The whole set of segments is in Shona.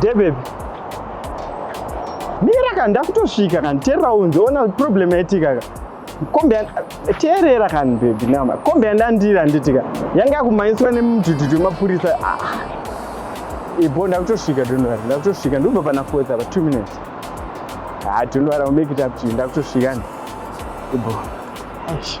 Debebi. Mira kani ndakutosvika kani terera unzwe ona problem yaitika ka. Kombi terera kani baby nama. Kombi yandandira nditika. Yanga yakumhanyiswa nemudhudhudhu wemapurisa. Ah. Ibo ndakutosvika don't worry. Ndakutosvika ndobva pana Fodza pa 2 minutes. Ah don't worry I'll make it up to you. Ndakutosvika. Ibo. Aish.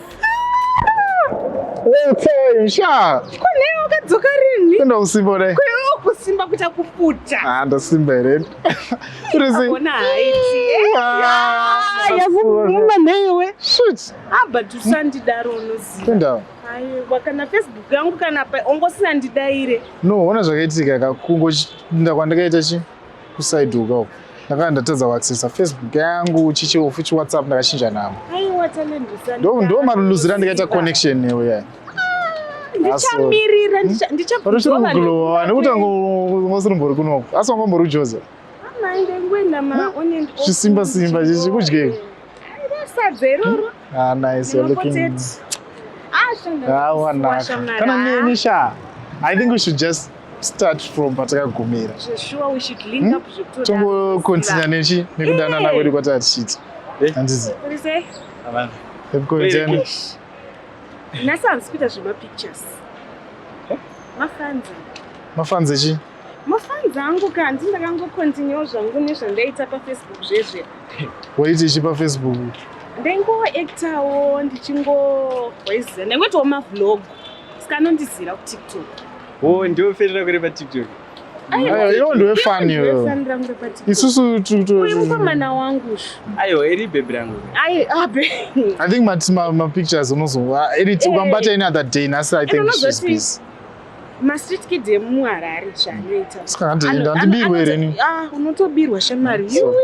Sha. Kuneo kadzoka rini? Kuenda kusimba re. Kuyo kusimba kuita kufuta. Ah, ndasimba here. Risi. Bona haiti. Ah, yavuma newe. Shoot. Aba ah, tusandidaro unoziva. Kuenda. Aiwa kana Facebook yangu kana pa ongosina ndidaire. No, ona zvakaitika kakungo ndakwa ndakaita chi? kusaiduka uko ndakanga ndatadza kuaccessa facebook yangu chichiofu chiwhatsapp ndakachinja namo ndo maluluzira andikaita connection newe yaya ndichamirira ndichakulowa nekuti ngosirumbori kunoku asi wangombori kujoza chisimba simba chichi kudyei ah, nice you're looking ah, ah, wanaka kana neni sha i think we should just start from patakagumira tongokontinya hmm? nechi nekudanana kwedu kwataa tichiita eh? handizi ekukontinya nhasi handisi kuita zvemapictures eh? mafanza mafanza chi mafanza angu ka handisi ndakangokontinyewo zvangu nezvandaita pafacebook zvezve waiti ichi pafacebook ndaingoactawo ndichingohwaiziva ndaingoitawo mavlog Ska anondizira ku TikTok. Oh, ndio fetera kuri pa TikTok. Ayo, iyo ndio fani yo. Isusu tu tu. Uyu mkomana wangu. Ayo, eri baby rangu. Ayo, abe. Ah, I think my my, my pictures unozo. Ah, eri tu kwambata eh. any other day, nasi I think she's busy. mastreet kid emuharare zvaanoita skandienda ndibirwe here ni ah unotobirwa shamari yuwi